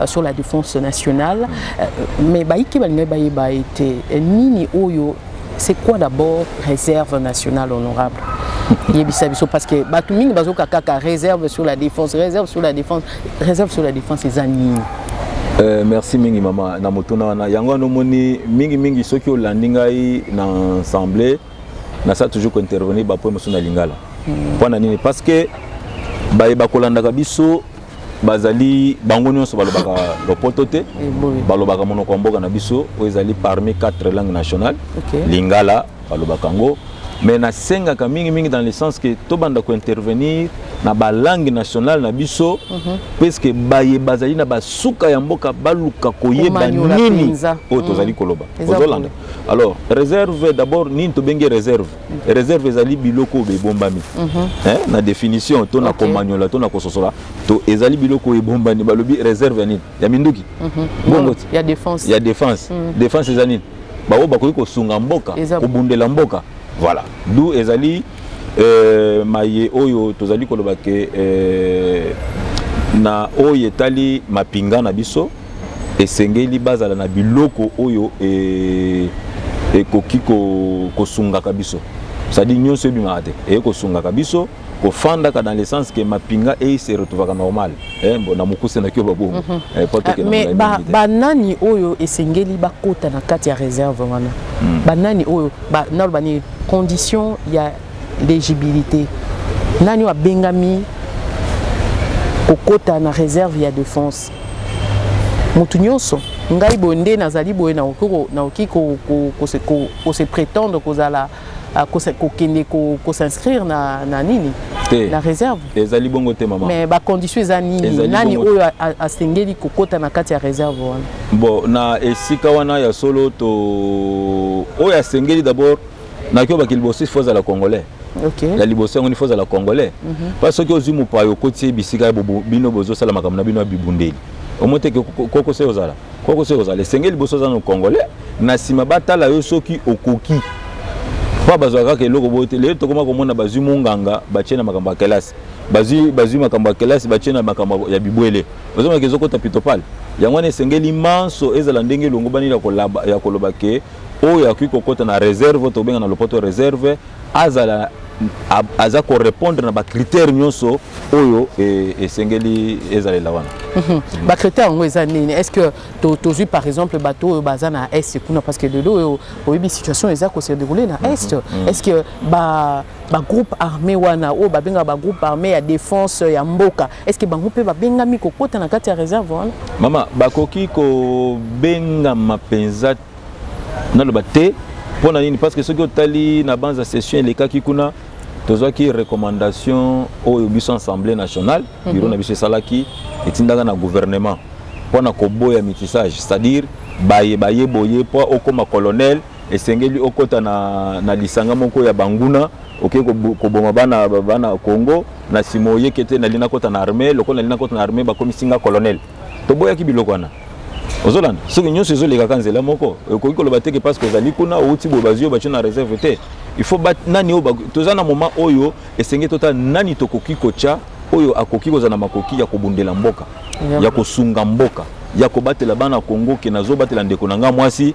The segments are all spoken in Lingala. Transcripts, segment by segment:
Euh, sur la défense nationale euh, mais baike balingai bayeba ete euh, nini oyo c'est quoi d'abord réserve nationale honorable yebisa biso parce que bato mingi bazoka kaka réserve sur la défense réserve sur la défense réserve sur la défense eza nini Euh, merci mingi mama na motuna wana yango wana omoni mingimingi soki olandi ngai na ensemble nasala toujours kointervenir bapoe mosusu na lingala mpo hmm. na nini parce que baye bakolandaka biso bazali bango nyonso balobaka lopoto te eh, balobaka monoko ya mboka na biso oyo ezali parmi quatre langue nationale okay. lingala balobaka yango mais nasengaka mingimingi dans le sens que tobanda kointervenir na balangue nationale na biso mm -hmm. puiske baye bazali na basuka ya mboka baluka koyeba nini oyo tozali mhm. koloba ozolanda alors réserve d'abord nini tobengi réserve reserve ezali biloko oyo ebombami mm -hmm. eh, na definition to na okay. komanyola to na kososola to ezali biloko oyo ebombani balobi reserve ya nini ya minduki mm -hmm. bongo ti ya defense, ya defense. Mm -hmm. defense eza nini baoyo bakoki kosunga mboka Eza... kobundela mboka voilà du ezali euh, maye oyo tozali koloba ke euh, na oyo etali mapinga na biso esengeli bazala na biloko oyo e, ekoki ko, kosungaka biso sadi nyonso ebimaka te eye kosungaka biso kofandaka dans le sens que mapinga eye se retrouvaka normal eh, na mokuse na kio babongo mm -hmm. eh, ah, mais ba, ba nani oyo esengeli bakota na kati ya réserve wana mm. ba nani oyo ba, naloba nini condition ya l'éligibilité nani oyo abengami kokota na réserve ya défense motu nyonso ngai boye nde nazali boye nakoki kose prétendre kozala ah, kokende kos'inscrire na, na nini te na réserve ezali bongo te mama mais bacondition eza nini nani oyo asengeli kokota na kati ya réserve wana bon na esika wana ya solo to oyo asengeli d'abord na kio bakili bosi faut la congolais okay. ya liboso yango faut la congolais mm -hmm. parce soki ozwi mopaya okoti ye bisika ya bino bozosala makambo na bino ya bibundeli omo te koko se ozala koko se ozala esengeli liboso oza na congolais na nsima batala yo soki okoki mpo bazwaka kaka eloko boye te lelo tokoma komona bazwi monganga batye na makambo ya kelasi bazwi makambo ya kelasi batye na makambo ya bibwele ozomaka ezokota pitopale yango wana esengeli manso ezala ndenge elongobani ya koloba ke oyo akoki kokota na reserve oyo tobenga na lopoto reserve azala aza korepondre na bacritère nyonso oyo e, esengeli ezalela wana mhm. bacritère yango eza nini est ce que tozwi par exemple bato oyo baza na est kuna parce que lelo oyo oyebi situation eza kose déroule na mhm. est mhm. est ce que bagroupe armé wana oyo babengaka bagroupe armé ya défense ya mboka Est-ce que bango pe ba bengami ko kota na kati ya reserve wana? Mama, bakoki ko benga mapenza na loba te mpo na nini parce que soki otali na banza session elekaki kuna tozwaki recommandation oyo biso assemblée nationale mhm. biro na biso esalaki etindaka na gouvernement mpo na koboya mitissage c'est-à-dire baye baye boye mpo okoma colonel esengeli okota na, na lisanga moko ya banguna oke koboma bana bana Congo na sima oyeke te nali nakota na armée lokola nali nakota na armée bakomisi nga colonel toboyaki biloko wana ozolanda soki nyonso ezolekaka nzela moko okoki koloba teke parce que ozali kuna outi boye bazwi yo batyo na réserve te il faut ba nani oyo toza na moment oyo esenge totala nani tokoki kotya oyo akoki kozala na makoki ya kobundela mboka ya kosunga mboka ya kobatela bana Congo ke nazobatela ndeko na nga mwasi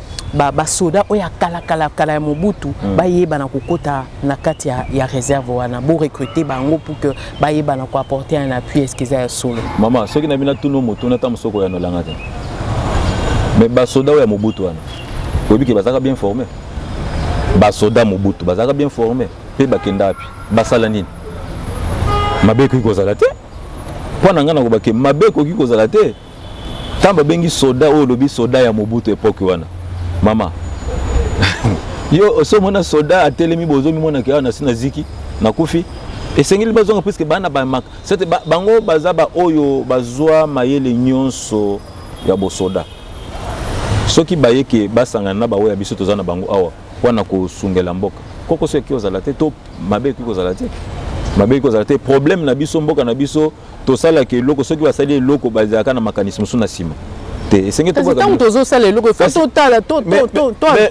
ba basoda oyo ya kala kala kala ya mobutu mm. bayebana kokota na kati ya, ya réserve wana borecrute bango pour que bayebana koapporte un appui eske eza ya solo mama soki na bino atuni motuna ata mosoko oyanolanga te mais basoda oyo ya mobutu wana oyebi ke bazalaka bien forme basoda mobutu bazalaka bien forme mpe bakenda wapi basala nini mabe ekoki kozala te mpo na ngai nakobake mabe ekoki kozala te ntango babengi soda oyo olobi soda ya mobutu epoke wana mama yo oso omona soda atelemi bozomimonaka awa nasi na ziki nakufi esengeli bazonga puiske bana bamaka sete bango baza baoyo bazwa mayele nyonso ya bosoda soki baye ke basangana na baoyo ya biso toza na bango awa mpo na kosungela mboka kokoso ekoki kozala te to mabe ekoki kozala te mabe ekoki kozala te problème na biso mboka na biso tosalaka eloko soki basali eloko bazalaka na makanisi mosusu na nsima te esengeli kasi ntango tozosala eloko efo totala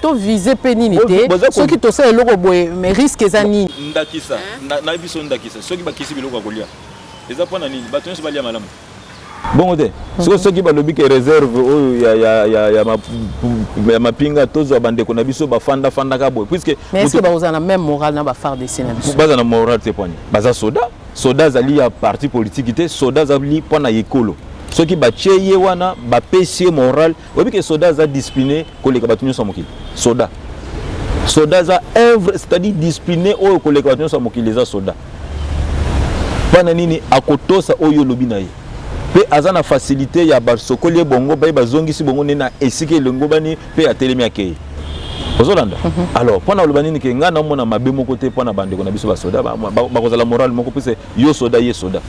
tovise mpe nini te soki tosala eloko boye mais risque eza nini ndakisa nayebi biso ndakisa soki bakisi biloko ya kolia eza mpo na nini bato nyonso balia malamu bongo te sikoyo soki balobi ke réserve oyo ya, ya, ya, ya, ma, ya mapinga tozwa bandeko na biso bafanda fandaka boye puisque mais est-ce que bakozala na même morale na ba FARDC na biso baza na morale te poani baza soda soda azali ya parti politiki te soda azali mpo na ekolo soki batye ye wana bapesi ye moral oyebi ke soda aza discipline koleka bato nyonso ya mokili soda soda aza œuvre c'est-à-dire discipline oyo koleka bato nyonso ya mokili eza soda mpo na nini akotosa oyo olobi na ye mpe aza na facilité ya basokoli ye bongo baye bazongisi bongo nde na esika elongobani pe atelemi akei ozolanda mm -hmm. alors mpo na oloba nini ke ngai naomona mabe moko te mpo na bandeko na biso basoda bakozala ba, ba morale moko mpese yo soda ye soda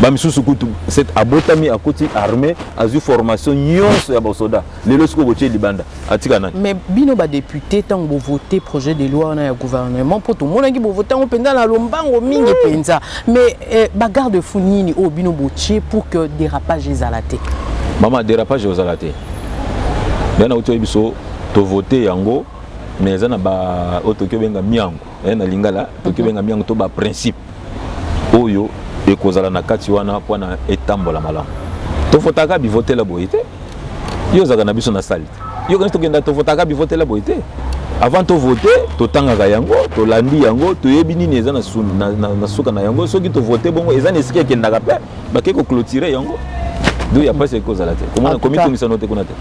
bamisusu kutu abotami akoti armée azwi formation nyonso ya basoda lelo soki okotie libanda atika nani mais bino badepute ntango bovote projet de loi wana ya gouvernement mpo tomonaki bovote yango mpenza na lombango mingi mpenza mais eh, bagarde fou nini oyo bino botie pour que dérapage ezala te mama dérapage ozala te ngai nauti oyebi biso tovote yango mais eza na ba oyo toki obenga miango eh, na lingala toki mhm. obenga miango to baprincipe oyo ekozala na kati wana mpo na etambola malamu tofotaka bivotela boye te yo ozalaka na biso na sali te yo kanisi tokenda tofotaka bivotela boye te avant tovote totangaka yango tolandi yango toyebi nini eza na, na, na, na suka na yango soki tovote bongo eza na esika ekendaka mpe bake ko clôturer yango donc ya mpasi ekozala te komona komitungisano te kuna te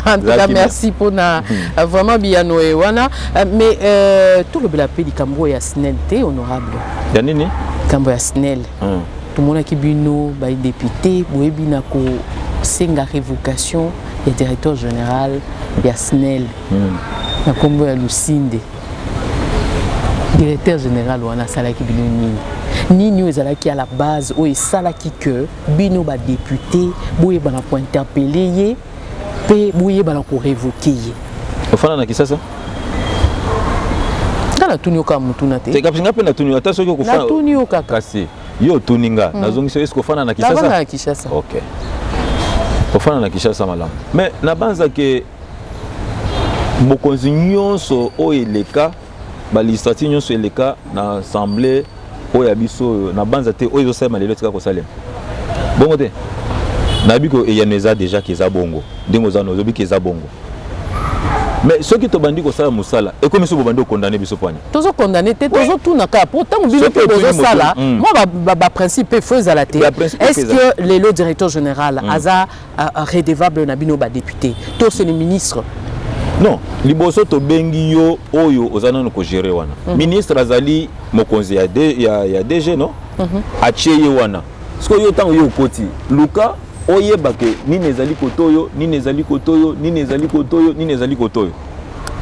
antuka merci mpona euh, vraiment biyano ye wana euh, mais euh, tolobela mpe likambo oyo ya snel te honorable ya nini likambo ya snel hmm. tomonaki bino badepute boyebi na kosenga révocation ya directeur général ya snel hmm. na nkombo ya lusinde directeur général wana asalaki bino nini nini oyo ezalaki ya la base oyo esalaki ke bino badepute boyebana kointerpele ye mpe boyebana korevoke ye ofanda na kisasa nga natuni yo kaka motuna te nga mpe natuni ata soki okofanatuni yo kaka kasi yo otuni nga hmm. nazongisi yo eske ofanda na kisasa na kinshasa ok ofanda na kinshasa malamu mais nabanza ke bokonzi nyonso oyo eleka balegislative nyonso eleka na assemblée oyo ya biso oyo na banza te oyo ezosalema lelo etika kosalema bongo te nayebi ko eyano eza deja ke eza bongo ndenge oza nozobi ke eza bongo mais soki tobandi kosala mosala ekomi so bobandi okondane biso pwani tozokondane te tozotuna kaka mpo ntango bino mpe bozosala mwa baprincipe mpe fo ezala te est ce que lelo directeur général mm. aza redevable na bino ba député to c'est le ministre non liboso tobengi yo oyo oza nano kogere wana mm -hmm. ministre azali mokonzi ya, de, ya, ya dg no mm -hmm. atie ye wana sikoyo yo ntango yo okoti luka oyeba ke nini ezali kotoyo nini ezali kotoyo nini ezali kotoyo nini ezali kotoyo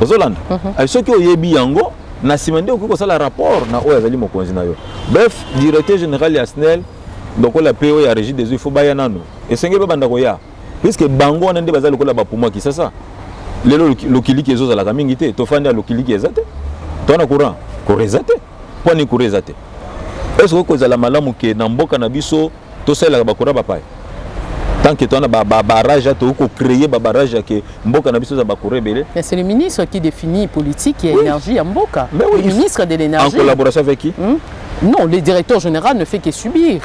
ozolanda mm -hmm. soki oyebi yango na nsima nde okoki kosala rapport na oyo azali mokonzi na yo bref directeur général ya snel lokola PO ya Régie des eaux il faut baya nano esengeli babanda koya puisque bango wana nde baza lokola bapumo ya Kisasa lelo lokiliki ezozalaka mingi te tofandi ya lokiliki eza te towana courant courant eza te mpo ani courant eza te est-ce que kozala malamu ke na mboka na biso tosalelaka bakura bapaya tant que towana babarrage ba, ba tokoki kocreye babarrage yake mboka na biso eza bakura ebele mais c'est le ministre qui définit politique ya oui. énergie ya mboka oui. le ministre de l'énergie en collaboration avec qui hmm? Non, le directeur général ne fait que subir.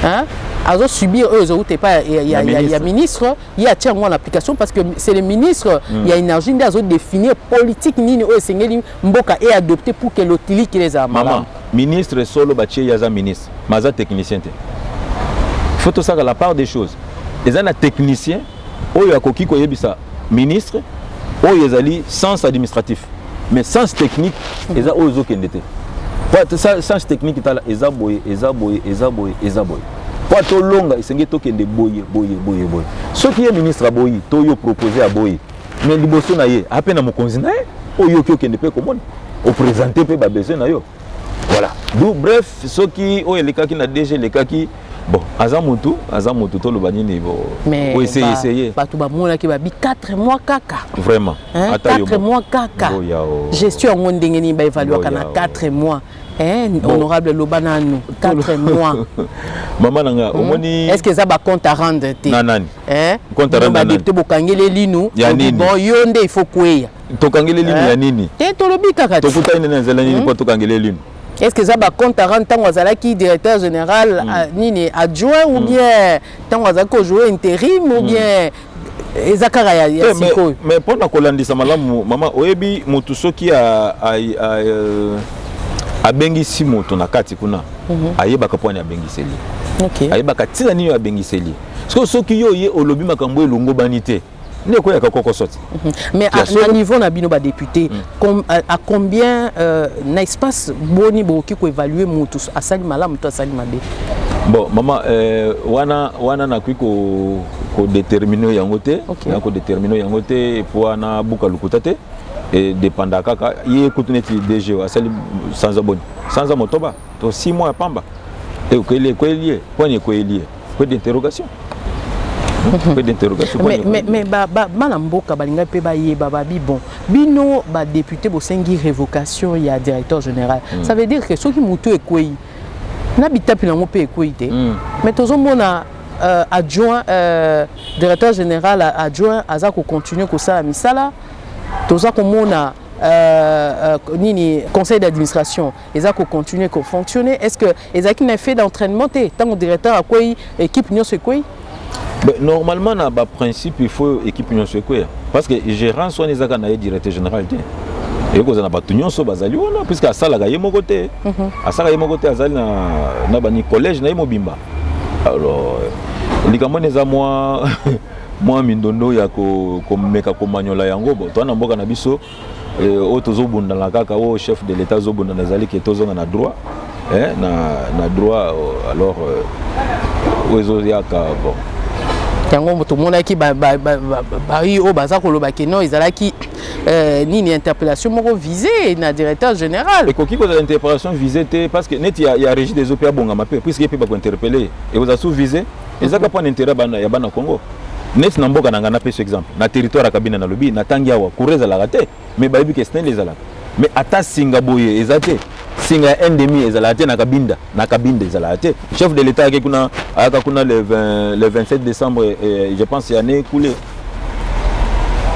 Hein? azo subir eux autres et pas il y a, y a ministre il y a tiens en application parce que c'est le ministre il mm. y a énergie nde azo définir politique nini oyo esengeli mboka et adopté pour que l'otili qui les a maman ministre solo batie yaza ministre maza technicien te faut ça la part des choses eza na technicien oyo akoki koyebisa ministre oyo ezali sens administratif mais sens technique eza oyo ezokende te sens technique tala eza boye eza boye eza boye eza boye mpo tolonga esengeli tokende boye boye boye boye soki ye ministre aboyi to yo propose aboyi mais liboso na ye ape na mokonzi na ye oyo oki okende mpe komona opresente mpe babesoin na yo voilà du bref soki oyo elekaki na dg elekaki bon aza mutu aza mutu toloba nini bo o essayer essayer bato bamonaki babi 4 mois kaka vraiment hein? 4 mois kaka gestion yango ndenge nini baevaluaka na 4 mois Eh, bon. honorable loba nanu 4 mois mama na nga hmm. omoni est ce que eza bacompte à rendre te na nani eh? compte à rendre na nani te bokangeli elinu ya nini bon yo nde il faut kweya tokangeli elinu eh? ya nini te tolobi kaka tokutani na nzela nini hmm? mpo tokangeli elinu est-ce que eza bacompte à rendre ntango azalaki directeur général mm. euh, nini adjoint ou mm. bien ntango azalaki kojoue intérim ou mm. bien eza kaka ya, ya eh, sikoyo mais mpo na kolandisa malamu mama oyebi motu soki euh, abengisi moto na kati kuna mm -hmm. ayebaka mpo ani abengiseli okay. ayebaka ntina nini oyo abengiseli sikoyo soki yo oye olobi makambo elongobani te nde ekweyaka koko sote mhm. mais na niveau na bino badepute mm. à combien euh, na espace boni bokoki koévalue motu asali malamu to asali mabe bon mama euh, wana wana nakoki kodetermine yango te na kodetermine yango te epo wana buka lokuta te edepanda kaka ye kutu neti dg asali sanza boni sanza motoba To six mois ya pamba. Et kweli kweli ye, point ye kweli ye. Point d'interrogation. Point d'interrogation. Mais mais mais ba ba bana mboka balinga pe ba yeba ba bi bon. Bino ba député bosengi révocation ya directeur général. Mm. Ça veut dire que soki mutu ekweyi na bitapi nango pe ekweyi te. Mm. Mais tozomona euh, adjoint euh, directeur général adjoint aza ko continuer kosala misala toza komona Euh, euh, nini conseil d'administration eza ko continuer ko fonctionner est-ce que ezalaki na effet d'entraînement te ntango directeur akwei équipe nyonso ekwei Mais normalement na ba principe il faut équipe nyonso ekweya parce que gérance wana ezaka na ye directeur général te ekozala na bato nyonso bazali wana puisque asalaka ye moko te mhm. asalaka ye moko te azali na, na bani collège na ye mobimba alors likambo wana eza mwa mwa mindondo ya komeka ko komanyola yango bo toa na mboka na biso oyo oh, tozobundana kaka oyo oh, chef de l'état azobundana ezali ke tozonga na droit eh, na, na droit oh, alors euh, oyo ezoyaka bon yango tomonaki bayi oyo baza koloba ke non ezalaki euh, nini interpellation moko visé na directeur général ekoki kozala interpellation visé te parce que neti ya, ya régie des eaux mpe abongama mpe puisque ye mpe bakointerpelle ye ekozala sous visé eza kaka mpo na interet ya bana congo neti na mboka na ngai napesi exemple na territoire ya kabina nalobi natangi awa courant ezalaka te me bayebi ke snel ezalaka me ata singa boye eza te singa ya endemi ezalaka te na kabinda na kabinda ezalaka te chef de l'état ayaki kuna ayaka kuna le, 20, le 27 décembre eh, je pense ya ne kule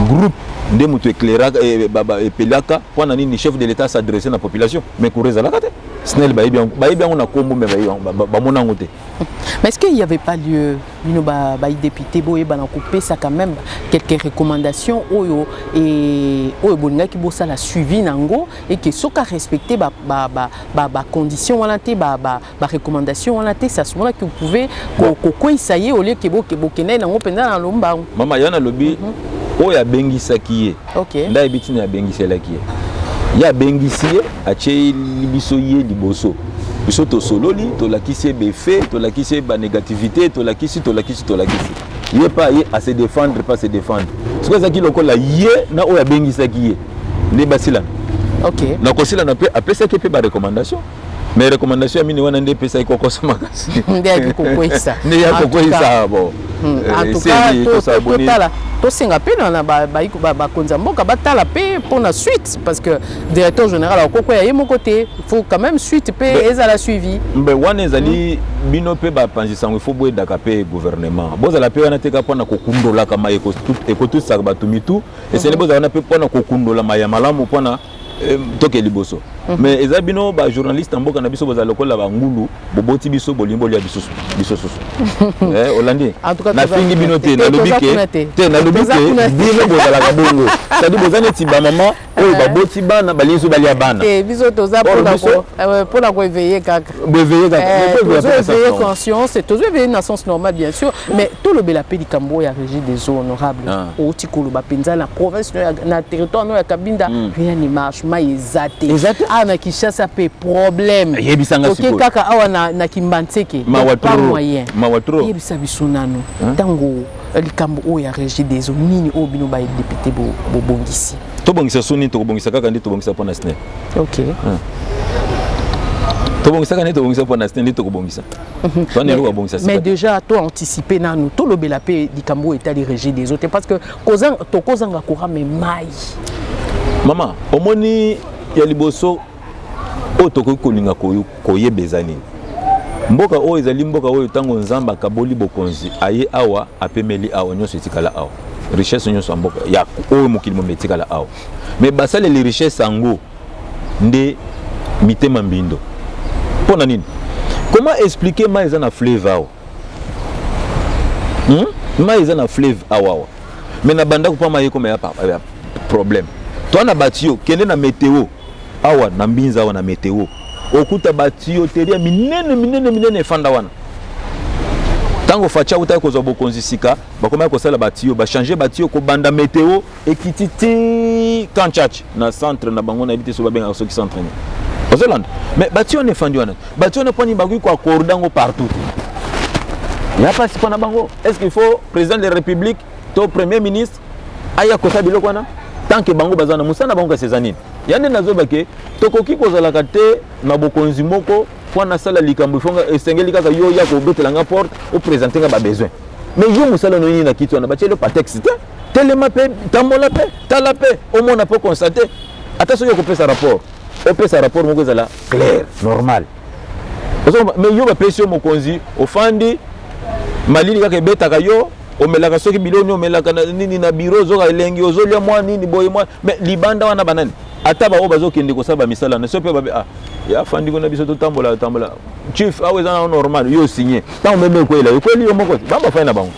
groupe nde moto eclairaka eh, epelaka mpo na nini chef de l'état s'adresse na population mais courant ezalaka te snel bayebi yango na kombo me bamona yango te Mais est-ce qu'il n'y avait pas lieu, bino ba, ba député boye bana kopesa quand même quelques recommandations oyo et oyo bolinga ki bosa la suivi nango et que soka respecter ba ba ba ba, ba conditions wana te ba ba, ba recommandations wana te ça souvent que vous pouvez ko ko ko essayer au lieu que bo que bo kenai nango pendant na lomba. Mama yana lobi mm -hmm. oyo abengisaki ye okay. nda yebi ntina abengiselaki ye ye abengisi ye atyeli biso ye liboso biso tosololi tolakisi ye befe tolakisi ye banégativité tolakisi tolakisi tolakisi ye pa ye ase défendre pa se défendre soki ezalaki lokola ye na oyo abengisaki ye nde basilana okay. na kosilana mpe apesaki mpe barecommandation mais recommandation ya mini wana nde epesaki kokosa makasi nde yaki kokweyisa nde ya kokweyisa bo hmm. eh, tosenga mpe na bakonzi ya mboka batala mpe mpo na suite parce que directeur général akokweya ye moko te il faut quand même suite mpe ezala suivi mbe wana ezali hmm. bino mpe bapanzi sango ifo boyedaka mpe gouvernement bozala mpe wana teka mpo na kokundolaka ma ekotusaka bato mitu esengeli hmm. bozala wana mpe mpo na kokundolama ya malamu mpo na Eh, toke liboso mhm. mais eza bino ba journaliste mboka na biso bozala lokola ba ngulu boboti biso bolingi bolia bisusu biso susu eh olandi nafingi bino te nalobi ke te nalobi ke bino bozalaka bongo c'est-à-dire boza neti ba mama oyo baboti bana balingi so balia bana te biso toza pona ko pona ko éveiller kaka boeveye eh, conscience tozo eveye na sens normal bien sûr mm. mais tolobela mpe likambo oyo ya régie des eaux honorable ah. outi koloba mpenza na province na territoire no ya kabinda mm. rien ne marche mai eza te awa na kinshasa mpe problème oke kaka awa na kimbanseke pas moyen yebisa biso nanu ntango likambo oyo ya regideso nini oyo bino ba député bobongisi tobongisa so nini tokobongisa kaka nde tobongisa mpo na sne ok hmm. tobongisaka nde tobongisa mpo na sne nde tokobongisa mhm. wana eloko abongisa mais déjà to anticipe nanu tolobela mpe likambo oyo etali regideso te parce que tokozanga courant me mai mama omoni ya liboso oyo tokoki kolinga koyeba eza nini mboka oyo ezali mboka oyo ntango nzambe akaboli bokonzi aye awa apemeli awa nyonso etikala awa richesse nyonso ya mboka ya oyo mokili mobimba etikala awa me basaleli richesse yango nde mitema mbindo mpo na nini comment expliquer mai eza na fleuve awa hmm? mai eza na fleuve awawa me na bandako mpa mai ekoma ya problème toi na batiyo kende na meteo awa na mbinza awa na meteo okuta batiyo teri ya minene minene minene efanda wana ntango faci autaki kozwa bokonzi sika bakomaki kosala batiyo bachange batiyo kobanda meteo ekiti ti kanchach na centre na bango nayebi te soki babengaka soki centre nini ozolanda mais bati wana efandi wana bati wana mpani bakoki koakorda yango partout te ya mpasi mpo na bango est ce qu'il faut président de la république to premier ministre aya kosa biloko wana tant que bango baza na mosala na bango kasi eza nini ya nde nazoba ke tokoki kozalaka te na bokonzi moko mpo nasala likambo ifonga esengeli kaka yo ya kobetela nga porte opresente nga babesoin mais yo mosala noyini na kiti wana batieli yo patexte te telema mpe tambola mpe tala mpe omona mpe okonstate ata soki okopesa rapport opesa rapport moko ezala claire normal me yo bapesi yo mokonzi ofandi malili kaka ebetaka yo omelaka soki biloni omelaka nini na biro ozoka elengi ozolya mwa nini boye mwa me libanda wana banani ata baoyo bazokende kosala bamisala na so mpe babe ah, ya fandi kuna biso totambola tambola chief awa eza na normal yo signe ntango meme ekwela ekweli yo moko bamba fai na bango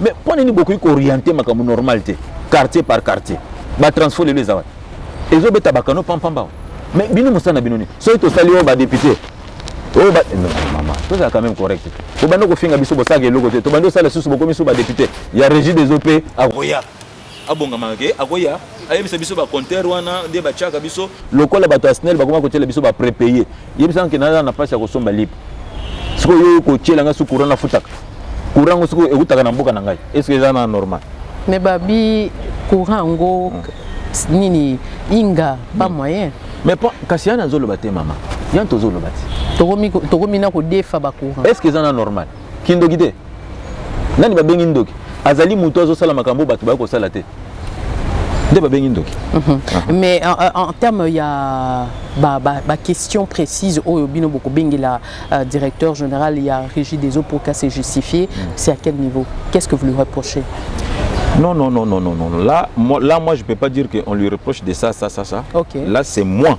mais mpo nini bokoki kooriente makambo normal te quartier par quartier batransport lelo eza wapi ezobeta bakano pampamba mais bino mosala na bino nini soki tosali oyo badepute oyo ba mama tozala quand même correct te bobandi kofinga biso bosalaka eloko te tobandi kosala lisusu bokomi so badepute ya régie des op akoya abongamaka ke akoya ayebisa biso bacompteur wana nde batiaka biso lokola bato ya snel bakoma kotyela biso baprepaye yebisa nake naza na mpasi ya kosomba lipe sikoyo yo kotyela ngai su courant nafutaka courant yango sikoyo eutaka na mboka na ngai estce eza na normal me babi courant yango nini inga pas moyen mais kasi yana azoloba te mama yani tozoloba te tokomi na kodefa bacourant estce eza na normal kindoki te nani babengi ndoki azali moto azosala makambo bato baye kosala te nde babengi ndoki mhm. ah. mais en, en terme ya baquestion ba, ba précise oyo bino bokobengela uh, directeur général ya régie des eaux pour cas se justifier mm. c'est à quel niveau qu'est ce que vous lui reprochez Non, non, non, non, non, non. Là, moi, là, moi je ne peux pas dire qu'on lui reproche de ça, ça, ça, ça. Okay. Là, c'est moi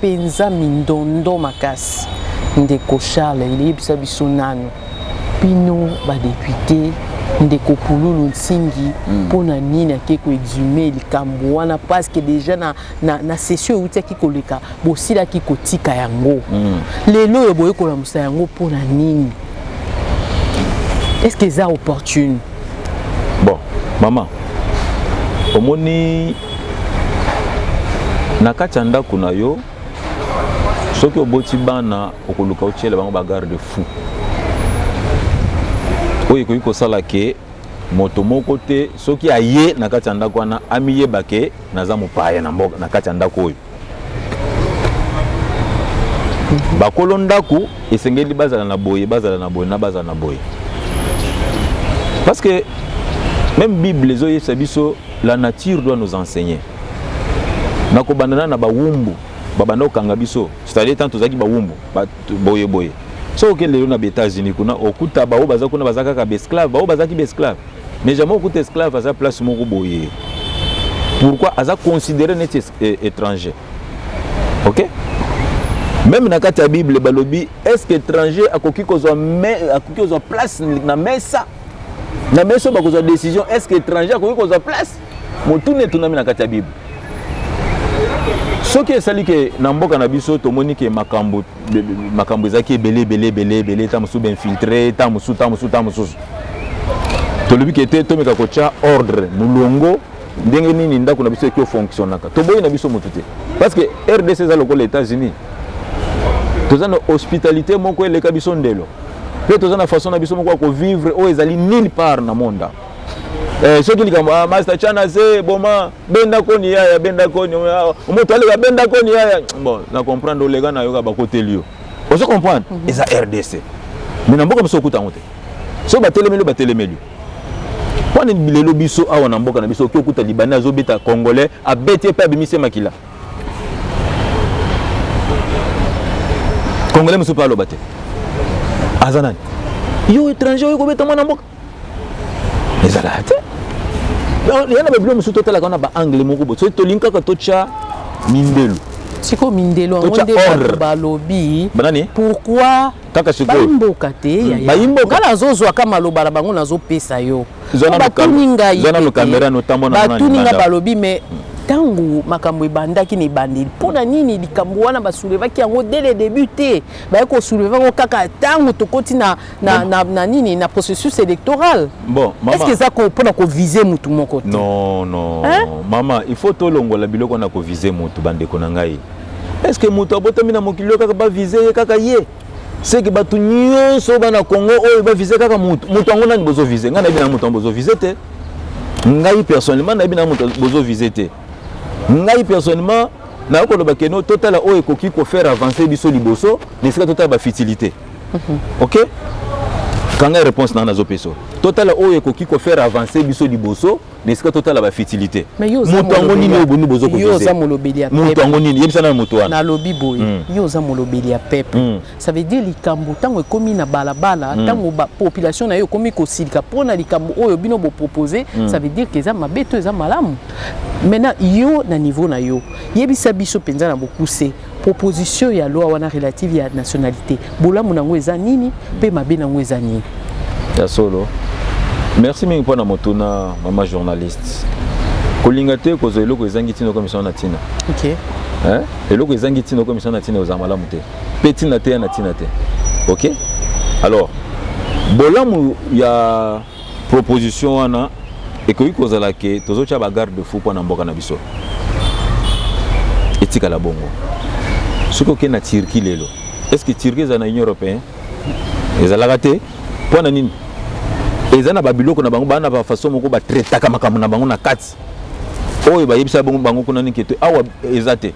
penza mindondo makasi ndeko charles yebisa biso nanu bino badepute ndeko pululu nsingi mpo hmm. na nini ake koexume likambo wana parceke deja na, na, na session eutiaki koleka bosilaki kotika yango mm. lelo oyo boyekolamusa yango mpo na nini estce eza opportune bon mama omoni na kati ya ndako na yo soki oboti bana okoluka otyela bango bagarde fou oyo ekoki kosala ke moto moko te soki aye na kati ya ndako wana amiyeba ke naza mopaya na mboka na kati ya ndako oyo bakolo ndako esengeli bazala na boye bazala na boye na bazala na boye parce que même bible ezoyebisa biso la nature doit nous enseigner na kobandana na bawumbu babanda kokanga biso c'est-à-dire ntango tozalaki bawumbu boye boye soki oke lelo na baétats-unis kuna okuta baoyo baza kuna baza kaka baesclave baoyo bazalaki baesclave mais jamais okuta esclave aza place moko boye pourquoi aza considéré neti e, étranger ok meme na kati ya bible balobi est ce que étranger akoki kozwa akoki kozwa place na mesa na mesa oyo bakozwa décision est ce que étranger akoki kozwa place motuna etunami na kati ya bible soki esali ke na mboka na biso tomoni ke makambo makambo ezalaki ebele ebele ebele ebele ntango mosusu bainfiltre ntango mosusu ntango mosusu ntango mosusu tolobi ke te tomeka kotya ordre molongo ndenge nini ndako na biso eko fonctionnaka toboyi na biso motu te parce que rdc eza lokola états-unis toza na hospitalité moko eleka biso ndelo mpe toza na façon na biso moko ya kovivre oyo ezali nulle part na monde eh, soki likambo ah, master chana ze boma benda koni yaya benda koni ah, moto aleka benda koni yaya bon na comprendre oleka na yoka bakoteli yo ozo comprendre mhm. eza rdc mais na mboka mosusu okuta yango te soki batelemeli batelemeli wana lelo biso awa na mboka na biso oki okuta libanais azobeta congolais abeti ye mpe abimisi ye makila congolais mosusu mpe aloba te aza nani yo étranger oyo kobeta mwana mboka ezalaka te ya na babilo mosusu totalaka wana baangle moko bo soki tolingi kaka totya mindelu sikoyo mindelo yango nde bato balobi pourquoi kaka sikoyobaimboka te hmm, baimboka nga nazozwaka maloba na bango nazopesa yo batuni ngai batuni ngai balobi me ntango makambo ebandaki na ebandeli mpo na nini likambo wana basoulevaki yango dès le début te baye kosouleve yango kaka ntango tokoti na, na, na, na nini na processus électoral bon, est ce que eza mpo na kovise motu moko te non non hein? mama il faut tolongola biloko na kovise motu bandeko na ngai est ce que moto abotami na mokili oyo kaka bavise ye kaka ye seke bato nyonso bana congo oyo bavise kaka moto moto yango nani bozovise ngai nayebi na moto yango bozovise te ngai personnellement nayebi na moto bozovise te ngai personnellement nayoki koloba keno totala oyo ekoki kofaire avance biso liboso na esika totala bafutilité mhm. ok kanga réponse nanga nazopesa totala oyo ekoki kofaire avance biso liboso na esika totala ba futilité moto yango nini oyo boni bozo ko viser moto yango nini yebisa na moto wana nalobi boye hmm. yo oza molobeli ya peuple hmm. ça veut dire likambo ntango ekomi na balabala ntango hmm. population na yo ekomi kosilika mpo na likambo oyo bino bopropose ça veut dire que eza mabe to eza malamu maintenant yo na niveau na yo yebisa biso mpenza na bokuse Proposition ya loi wana relative ya nationalité, bolamu nango eza nini pe mabe nango eza nini? Ya solo. Merci mingi pona motuna mama journaliste. Kolinga te kozwa eloko ezangi tina okomisa na tina. Okay. Hein? Eloko ezangi tina okomisa na tina ozala malamu te. Pe tina te ya na tina te. Okay? Alors, bolamu ya proposition wana ekoki kozala ke tozotya bagarde fou mpo na mboka na biso etikala bongo soki okei na turquie lelo est ce que turquie ezala na union européen ezalaka te mpo na nini eza na babiloko na bango baa na bafaso moko batretaka makambo na bango na kati oyo bayebisa bango kuna nini kete awa eza te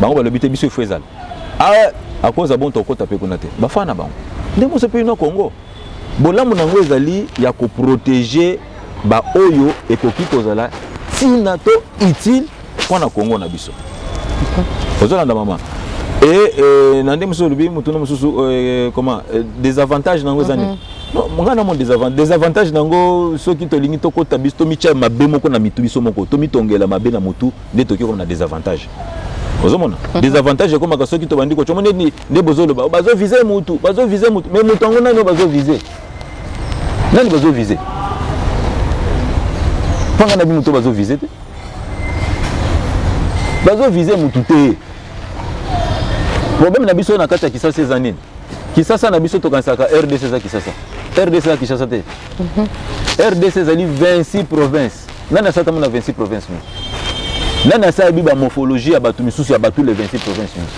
bango balobi te biso ifo ezala awa akoza bonto okota mpe kuna te bafana bango ndenge moso mpe ino congo Bolamu na yango ezali ya koprotege baoyo ekoki kozala ntina to utile mpo na Kongo na biso. Ozolanda mama e, e, na nde mosusu olobi motuna mosusu e, comment e, desavantage na yango eza nini? Mhm. ngai na moni desavantage na yango soki tolingi tokota biso tomitya mabe moko na mitu biso moko tomitongela mabe na motu nde toki koma na desavantage ozomona mhm. desavantage ekomaka soki tobandi kotya omoni nini nde bozoloba bazovise motu bazovise motu me motu yango nani oyo bazovise nani bazovise mpanga na bimoto bazovise te bazovise motu te problème na biso na kati ya kisasa eza nini kisasa na biso tokanisaka rdc eza kisasa rdc eza kisasa te mhm. rdc ezali 26 province Est nani asala tango na 26 province mingi nani asala bi bamorphologie ya bato misusu ya bato le 26 province mingi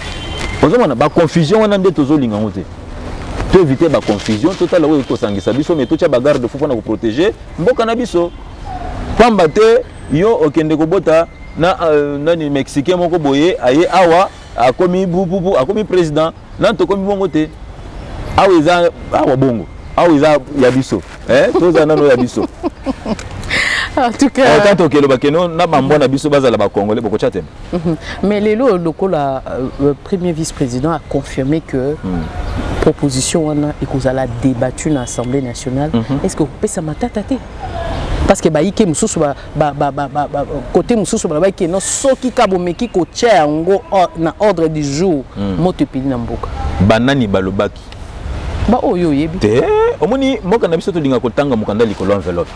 ozomona baconfusion wana nde tozolinga yango te to éviter baconfusion totala oyo ekosangisa biso mai totya bagarde fo mpona koprotege mboka na biso pamba te yo okende kobota na euh, nani mexicain moko boye aye awa akomi pupupu akomi president nani tokomi bongo te awa eza awa bongo awa eza ya biso eh, toza nano ya biso ata tokeloba keno na bambwa na biso bazala bakongole bokotya te mhm. mais lelo lokola euh, euh, premier vice président a confirmé que hmm. proposition wana ekozala débattu na assemblée nationale mhm. est ce que okopesa matata te parce que baike mosusu ba, ba, ba, ba, ba, kote mosusu balobaki keno soki ka bomeki kotya yango na ordre du jour mm. moto epeli na mboka banani balobaki baoyo oyebi te omoni mboka na biso tolinga kotanga mokanda likolo enveloppe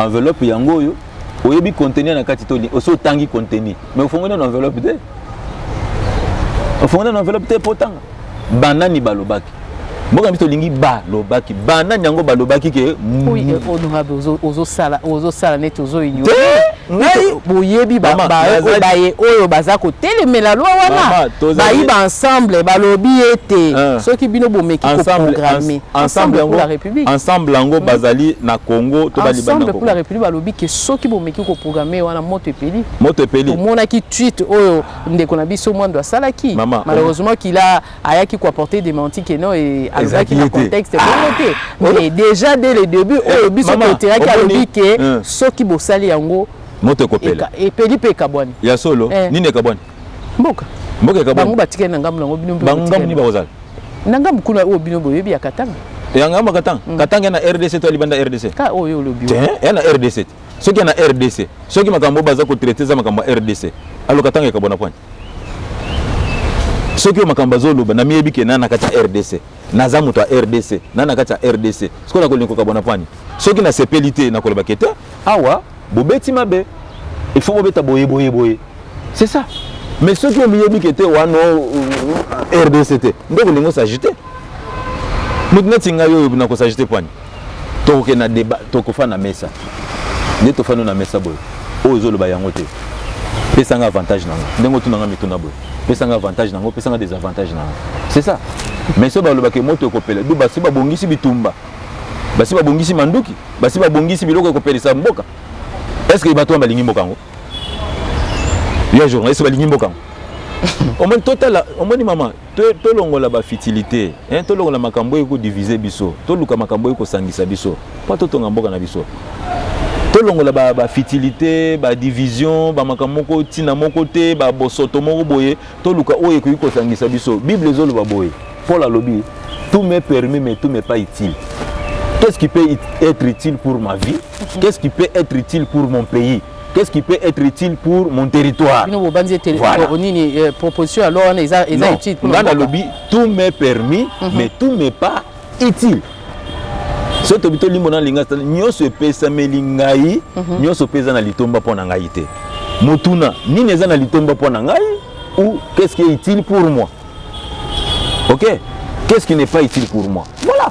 enveloppe yango oyo oyebi contenu na kati to osi otangi contenu mais ofongoli nano enveloppe te ofongoli nano enveloppe te mpo otanga banani balobaki mboka na biso tolingi balobaki banani yango balobaki ke ozosala neti ozoboyebi baye oyo baza kotelemela lwa wana bayi ba ensemble balobi ete ah. soki bino bomeki koprograme ensemble yango hmm. bazali na congo to ensemble pour la république balobi ke soki bomeki koprograme wana moto epeli moto epeli tomonaki tweet oyo ndeko na biso mwando asalaki malheureusement kila ayaki ko apporter dementi que non et alobaki na contexte bongo te ah! mais déjà dès le début eh, oyo biso toteraki alobi ke eh. soki bosali yango moto ekopela epeli mpe ekabwani ya solo eh. nini ekabwani mboka mboka ekabwani bango batikali na ngambo nango bino bango ngambo nini bakozala na ngambo kuna oyo bino boyebi ya katanga ya ngambo katanga mm. katanga na rdc to libanda rdc ka oyo olobi ya na rdc soki ya na rdc soki makambo oyo baza kotraite eza makambo ya rdc aloka ntango ekabo na pwani soki oyo makambo azoloba namiyebi ke na na kati ya rdc naza moto ya rdc na na kati ya rdc sikoyo nakolinga kokabwa na pwani soki nasepeli te nakoloba ke te awa bobeti mabe il faut bobeta boye boye boye c'est ça mais soki omiyebi ke te wana rdc te nde okolinga osagite moto neti ngai oyo nakosagite pwani tokokende na deba tokofana na mesa nde tofani na mesa boye oyo ezoloba yango te pesa nga avantage nango ndenge otuna nga mituna boye pesa nga avantage nango pesa nga désavantage nango c'est ça mais so balobaka moto ekopela du basi babongisi bitumba basi babongisi manduki basi babongisi biloko ekopelisa mboka est ce que bato wana balingi mboka yango ya journaliste balingi mboka yango omoni totala omoni mama To, tolongola ba fitilite eh, tolongola makambo oyo ekodivize biso, toluka makambo oyo ekosangisa biso mpo totonga mboka na biso tolongola ba, ba fitilite ba division ba makambo moko ntina moko te ba bosoto moko boye toluka oyo ekoki kosangisa biso bible ezoloba boye paul alobi tout me permis mais tout me pas utile qu'est ce qui peut être utile pour ma vie qu'est ce qui peut être utile pour mon pays qu'est-ce qui peut être utile pour mon territoire bino bobanzi ete voilà. Oh, nini eh, proposition ya loi wana eza eza utile pour nga nalobi tout m'est permis mm -hmm. mais tout m'est pas utile soki tobi tolimbo na linga nyonso epesameli ngai mhm. nyonso mpe eza na litomba mpo na ngai te motuna nini eza na litomba mpo na ngai ou qu'est-ce qui est utile pour moi ok qu'est-ce qui n'est pas utile pour moi voilà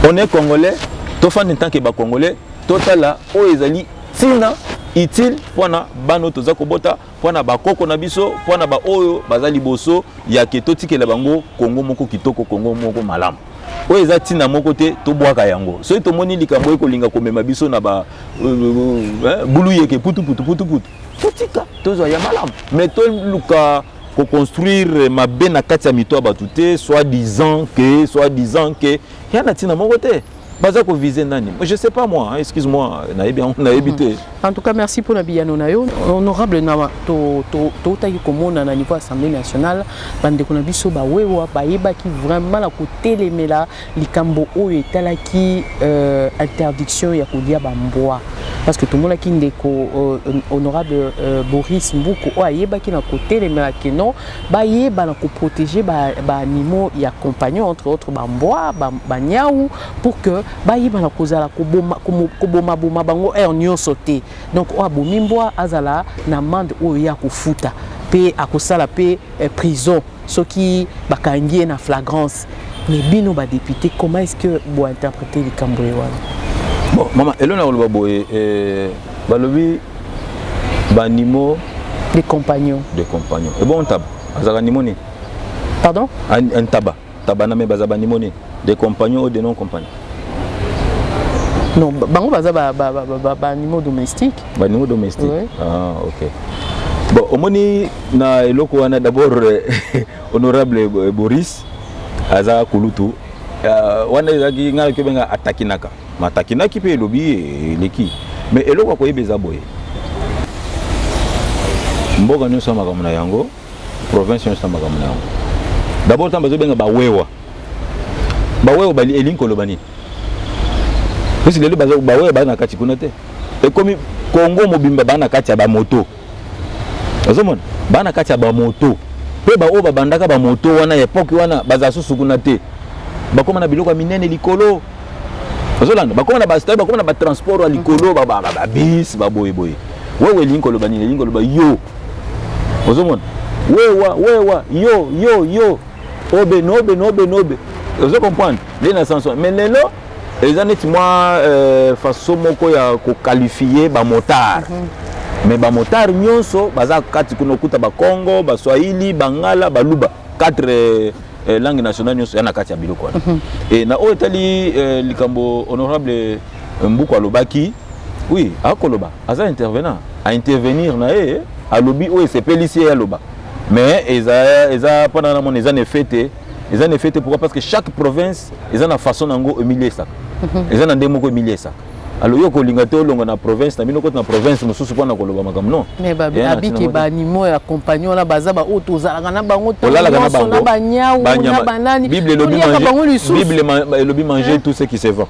on est congolais tofandi ntanke bacongolais Totala oyo ezali ntina utile mpo na bana oyo toza kobota mpo na bakoko na biso mpo na baoyo baza liboso ya ke totikela bango kongo moko kitoko kongo moko malamu oyo eza ntina moko te tobwaka yango soki tomoni likambo ekolinga komema biso na ba euh, euh, euh, buluyeke putuputuputuputu totika tozwa ya malamu me toluka koconstruire mabe na kati ya mito ya bato te soit disant ke soit disant ke ya na ntina moko te baza ko viser nani je sais pas moi excuse moi nayebi yango nayebi te hmm. en tout cas merci mpona biyano na yo honorable na toutaki komona na niveau assemblée nationale bandeko na biso bawewa bayebaki vraiment na kotelemela likambo oyo etalaki euh, interdiction ya kolia bambwa parce que tomonaki ndeko euh, honorable euh, boris mbuku oyo ayebaki na kotelemela keno bayeba na ko protéger ba, ba animaux ya compagnie entre autres ba mbwa ba, ba nyau pour que bayeba na kozala koboma koboma boma bango heure nyonso te donc oyo abomi mbwa azala na amende oyo ye akofuta mpe akosala mpe eh, prison soki bakangi ye na flagrance mais bino badepute comment est ce que bointerprete likambo ye wana bon mama elona koloba boye eh, balobi banimo des compagnons des compagnons et bon ntaba azalaka nimo nini pardon ntaba taba na me baza banimo nini des compagnons ou des non compagnons non bango baza banimo domestique banimo domestique oui. ah, ok bon omoni na eloko wana d'abord euh, honorable euh, boris aza kulutu euh, wana ezalaki ngai nakoki obenga atakinaka matakinaki mpe elobi ye eleki me eloko ya koyeba eza boye mboka nyonso ya makambo na yango province nyonso ya makambo na yango dabord ntango bazobenga bawewa bawewa bali elingi koloba nini pusi lelo bawewa baa na kati kuna te ekomi kongo mobimba baa na kati ya bamoto ozomona baa na kati ya bamoto mpe baoyo babandaka bamoto wana ya epoke wana bazala susu kuna te bakóma na biloko ya minene likolo ozolanda bakóma na bastari bakóma na batransport ya likolo babis baboyeboye wewe elingi koloba nini elingi koloba yo ozomona wewa wewa yo yo yo obe nobe nobe nobe ozo comprendre nde na sanso mais lelo eza neti mwa euh, façon moko ya kokalifie bamotare mm -hmm. mais bamotare nyonso baza kati kuna okuta bakongo baswahili bangala baluba 4 euh, euh, langue nationale nyonso ya na kati ya biloko wana mm -hmm. e na oyo etali euh, likambo honorable euh, mbuku alobaki oui akoloba aza intervenant aintervenir na ye alobi oyo esepelisi ye aloba mais eza eza mpona na mona eza na effet te eza na effet te pourquoi parce que chaque province eza na façon na yango emiliesaka mhm. eza na ndenge moko emiliesaka alo yo kolinga te olonga na province na bino koti na province mosusu mpo na koloba makambo non mais babiki baanimo ya compagnie wana baza baoyo tozalaka na bango tolalakanabanyau na banani bible elobi manger tout ce qui se vend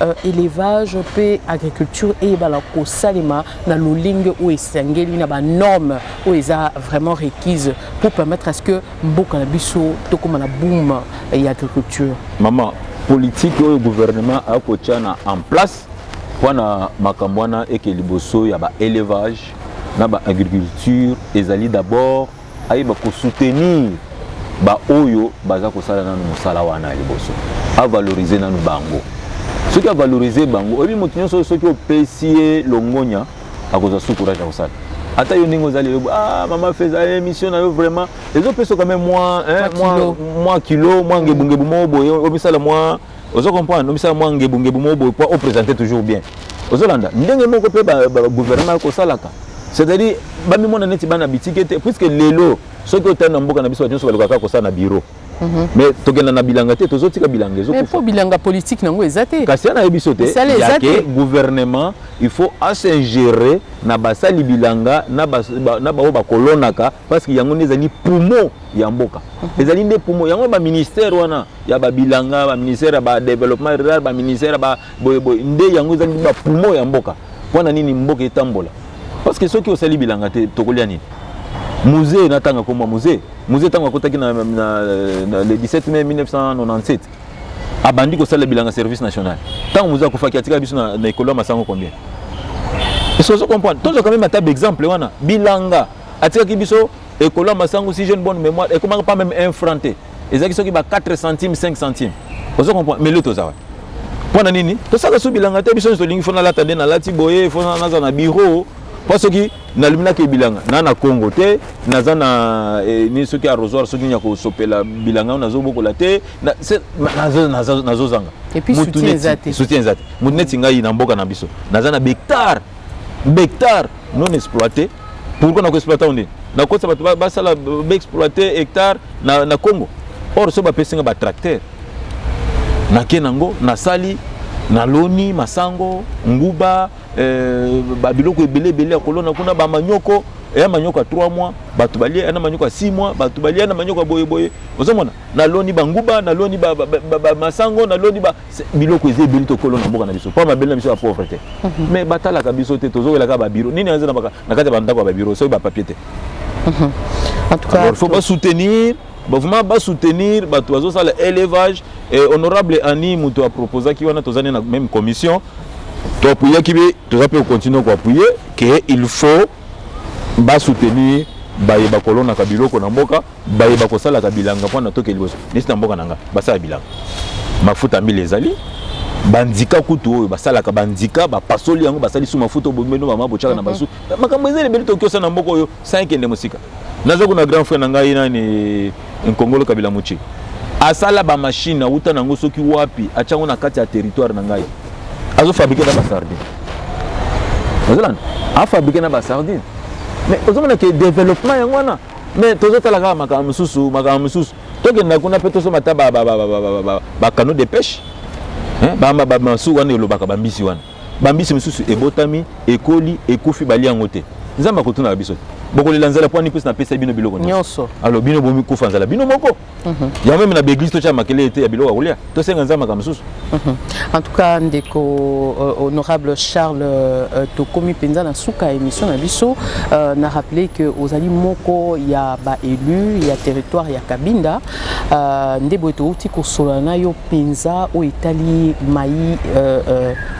Euh, élevage mpe agriculture eyebana kosalema na lolenge oyo esengeli na banorme oyo eza vraiment requise pour permettre à ce que mboka na biso tokóma na boom ya agriculture mama politike oyo gouvernement akotya na en place mpo na makambo wana eke liboso ya baélevage na baagriculture ezali d'abord ayeba ko soutenir ba oyo baza kosala nanu mosala wana ya liboso avalorize nanu bango soki avalorize bango oyebi moto nyonso soki opesi ye longonya akozwa su courage ya kosala ata yo ndenge ozali elobi ah mama feza eh, émission na yo vraiment ezopesa kame mwa mwa kilo mwa ngebungebu moko boye omisala mwa ozo comprendre omisala mwa ngebungebu moko boye mpo opresente toujours bien ozolanda ndenge moko mpe bagouvernement ekosalaka c'est-à-dire bamimona neti bana bitike te puiske lelo soki otali na mboka na biso bato nyonso balukaka kosala na biro mhm. mais tokenda na bilanga te tozotika bilanga ezopo bilanga politike nango eza te kasi ya nayebi biso te yake gouvernement il faut asingere na basali bilanga na baoyo bakolonaka parce que yango nde ezali pumo ya mboka mhm. ezali nde pumo yango baministère wana ya ba bilanga ba ministère ya ba développement rural ba ministère ya ba boye boye nde yango ezali ba poumon ya mboka mpo na nini mboka etambola parce que soki osali bilanga te tokolia nini musée natanga komwa musée musée ntango akotaki na, na, na le 17 mai 1997 abandi kosala bilanga service national ntango musée akufaki atikala biso na, na ekolo ya masango combien esozo comprendre tozwaka meme ata baexemple wana bilanga atikaki biso ekolo ya masangu si jeune bonne mémoire ekomaka pas même un franc te ezalaki soki ba 4 centimes 5 centimes ozo comprendre mais lelo toza wapi mpo na nini tosala so bilanga te biso nyonso tolingi fo nalata nde nalati boye fo naza na biro mpo soki naluminaki ebilanga na na congo te naza na eh, ni soki arrosoir soki ya kosopela bilanga oyo nazobokola te nazozanga soutien eza te motu neti ngai na mboka na biso naza na bectare bectare non exploité pourquoi na ko exploiter yango nini na kotisa bato basala ba exploiter hectare na, na Congo or so bapesi nga ba tracteur nake nango nasali naloni masango nguba eh, babiloko ebele ebele ya kolona kuna bamanioko eya eh, manioko ya 3 mois bato balie eh, na manioko ya 6 mois bato balie na manioko ya boyeboye ozomona naloni banguba naloni bamasango ba, ba, ba, naloni ba, biloko eza ebeli tokolo na mboka na biso mpo mabele na biso ya pauvre te mhm. mais batalaka biso te tozowelaka babiro nini aza na kati ya bandako ya babiro soki bapapier te mhm. alors faut basoutenir vraiment basoutenir bato bazosala élevage honorable ani moto aproposaki wana toza ne na même commission toapuyaki be toza mpe kocontinue koapuye ke il faut basoutenir baye bakolonaka biloko na mboka baye bakosalaka bilanga mpo na toke liboso neti na mboka na nga basala bilanga mafuta mbila ezali bandika kutu oyo basalaka bandika bapasoli yango basali su mafuta obomino mama botyaka na mhm. basu makambo ezali ebeli tokiosa na mboka oyo sankende mosika naza kuna grand frère na ngai nani nkongolo kabila moce asala bamashine awuta na yango soki wapi atya yango na kati ya territoire na ngai azofabrike na basardine ozolanda afabrike na basardine mais ozomona ke développement yango wana me tozotala kaka makambo mosusu makambo mosusu tokenda kuna mpe tosomba ata bacano de pêche bamasuku wana elobaka bambisi wana bambisi mosusu ebotami ekoli ekufi bali yango te nzambe akotunaka biso te bokolela nzala mpo wani mpesi napesa bino biloko nyonso alo bino bomikufa nzala bino moko Mhm. yango meme na baeglise totya makele ete ya biloko ya kolia tosenga nzambe makambo mosusu mhm. en tout cas ndeko euh, honorable charles euh, euh, tokomi mpenza na suka ya émission na biso na rappele que ozali moko ya baélu ya territoire ya kabinda nde boye touti kosolola na yo mpenza oyo etali mai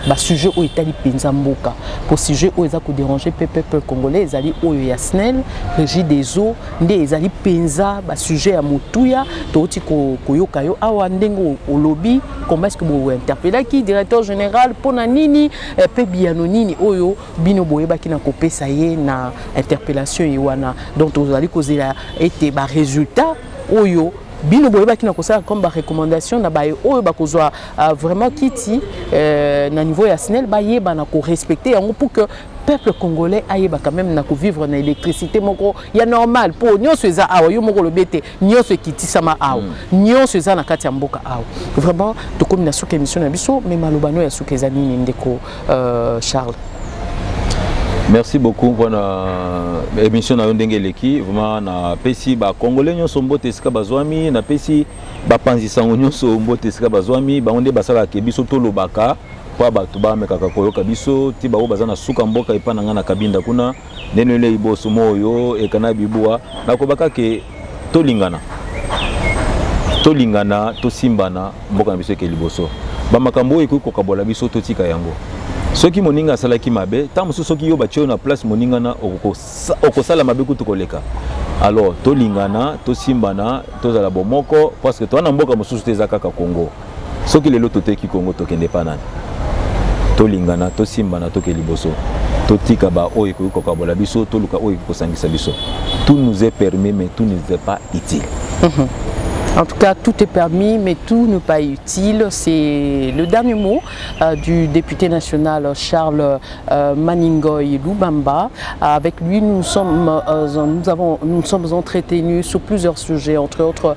basujet oyo etali mpenza mboka po sujet oyo eza koderange mpe peuple congolais ezali oyo ya snel régie des eaux nde ezali mpenza basujet ya motuya touti koyoka yo awa ndenge olobi comment est ce que bointerpelaki directeur général mpo na nini eh, mpe biyano nini oyo bino boyebaki na kopesa ye na interpellation ye wana donc tozali kozela ete baresultat oyo bino boyebaki na kosala comme barecommandation na baye oyo bakozwa euh, vraiment kiti euh, na niveau ya snel bayebana korespecte yango pour que peuple congolais ayeba quand même na ko vivre na électricité moko ya normal po nionso eza awa yo moko lobi ete nionso ekitisama awa mm. nionso eza na kati ya mboka awa vraiment tokomi na suka émission na biso mais maloba no ya suka eza nini ndeko euh, Charles merci beaucoup mpona euh, émission na yo ndenge eleki vraiment napesi bacongolais nyonso mbote esika bazwami napesi bapanzi sango nyonso mbote esika bazwami bango nde basalaka biso tolobaka mpo bato bamekaka koyoka biso ti baoyo baza na suka mboka epai na ngai na kabinda kuna ndene olei boso moyo ekana bibua nakobaka ke tolingana tolingana tosimbana mboka na biso eke liboso bamakambo oyo ekoki kokabola biso totika yango soki moninga asalaki mabe ntango mosusu soki yo batye yo na place moningana okosala mabe kutu koleka alors tolingana tosimbana tozala bomoko parceke toa na mboka mosusu te eza kaka congo soki lelo toteki kongo tokende epa nani tolingana tosimbana toke liboso totika baoyo ekoki kokabola biso toluka oyo ekoki kosangisa biso tout nous est permis mais tout nous est pas utile mhm. En tout cas, tout est permis, mais tout n'est pas utile. C'est le dernier mot euh, du député national Charles euh, Maningoy Lubamba. Avec lui, nous, sommes, euh, nous, avons, nous sommes entretenus sur plusieurs sujets, entre autres